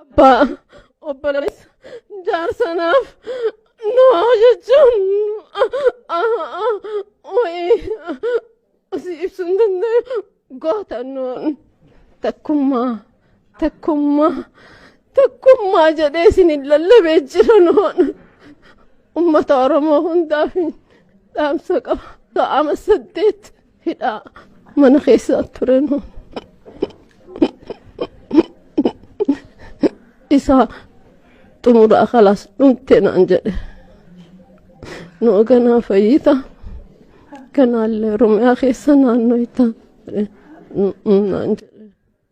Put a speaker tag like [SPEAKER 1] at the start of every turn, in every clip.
[SPEAKER 1] Abbaa obboleessa jaarsanaaf noo jechuun wayii si ibsuun danda'u gootannoon takkummaa takkummaa takkummaa jedhee isin hin lallabee jiranoon ummata oromoo hundaaf dhaamsa qaba. Ta'ama saddeet. hidhaa mana keessaa ture nu isaa xumuraa kalaas dhumte naan jedhe nu ganaa fayyita kanaallee oromiyaa keessa naannoyta naan jedhe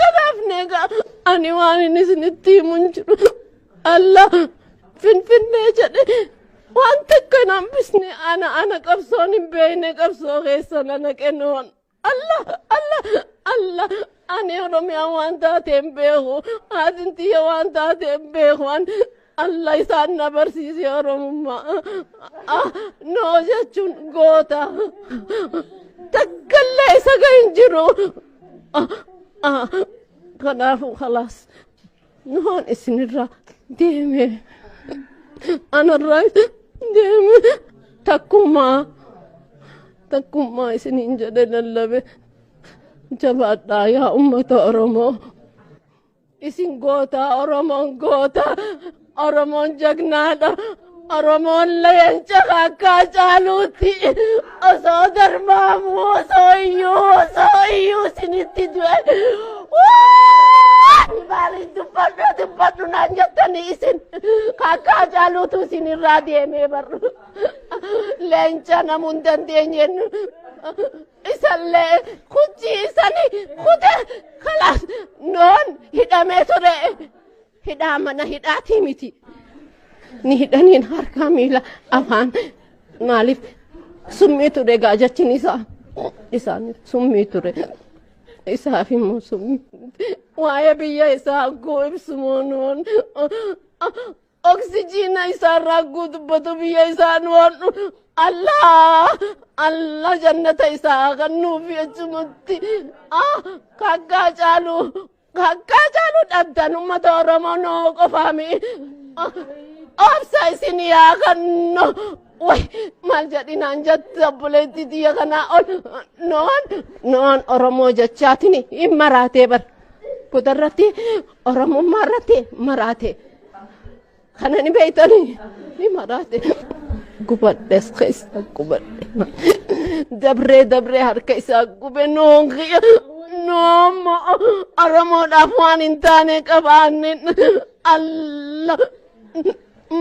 [SPEAKER 1] Kanaafne egaa ani waan inni isinitti himu hin jiru. Allah finfinnee jedhe waan takka hin hambisne ana ana qabsoon hin beekne qabsoo keessa na naqe noon. Allah Allah Allah ani Oromiyaa waan taate hin beeku haatin tiyya waan taate hin beeku an Alla isaan na barsiise Oromummaa. Ah, Noo jechuun goota. Takkallee isa ga'e hin jiru. Ah, ah, Kanaafuu khalaas. Noon isinirraa deeme. Anarraa deeme. Takkumaa. Takkumaa isiniin jedhe lallabe. Jabaadhaa yaa uummata Oromoo. Isin goota Oromoon goota Oromoon jagnaadha Oromoon leenca kakkaa caaluutti osoo darmaamu osoo iyyuu osoo iyyuu isinitti du'e waan maaliin dubbadhu dubbadhu naan jettanii isin kakkaa caaluutu isin irraa deemee barru leenca namuu hin dandeenyeen isallee kuchii isani kute kalas noon hidhamee ture hidhaa mana hidhaatii miti ni hidhaniin harkaa miila afaan maaliif summii ture egaa jechin isaa isaan summii ture isaaf immoo summii waa'ee biyya isaa agguu ibsumoo noon Oksijiina isaarraa guutubbatu biyya isaa nu hodhu. Allah Allah jannata isaa kennuufi achumatti ah kakkaa caalu kakkaa caalu dhabdan uummata Oromoo noo qofaami. Ah, Obsa isin yaa kennu. Way maal jedhinaan jette obboleetti tiyya kanaa ol noon noon Oromoo jechaatiin hin maraatee bar. Kutarratti Oromummaa irratti maraate. Kana ni beektanii ni maraate. Gubadhes keessa gubadhe. Dabree dabree harka isaa gube noon kiyya. Noommo Oromoodhaaf waan hin taane qabaanne. Allah.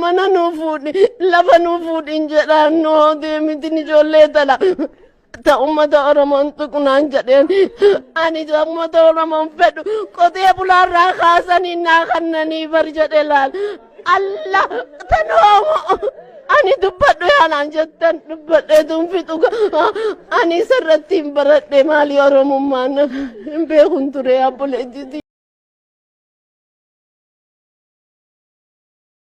[SPEAKER 1] Mana nuu fuudhi lafa nuu fuudhi hin jedhaan noo deemitin ijoollee tana. ta ummata oromoon tuqnaan jedheen ani ta ummata oromoon fedhu qotee bulaarraa kaasanii naa kannanii bar jedhe laal alla tan hoomo ani dubbadhu yaanaan jettan dubbadheetuun fixu ani isarratti hin baradhe maalii oromummaan hin beekun ture abboleettiti.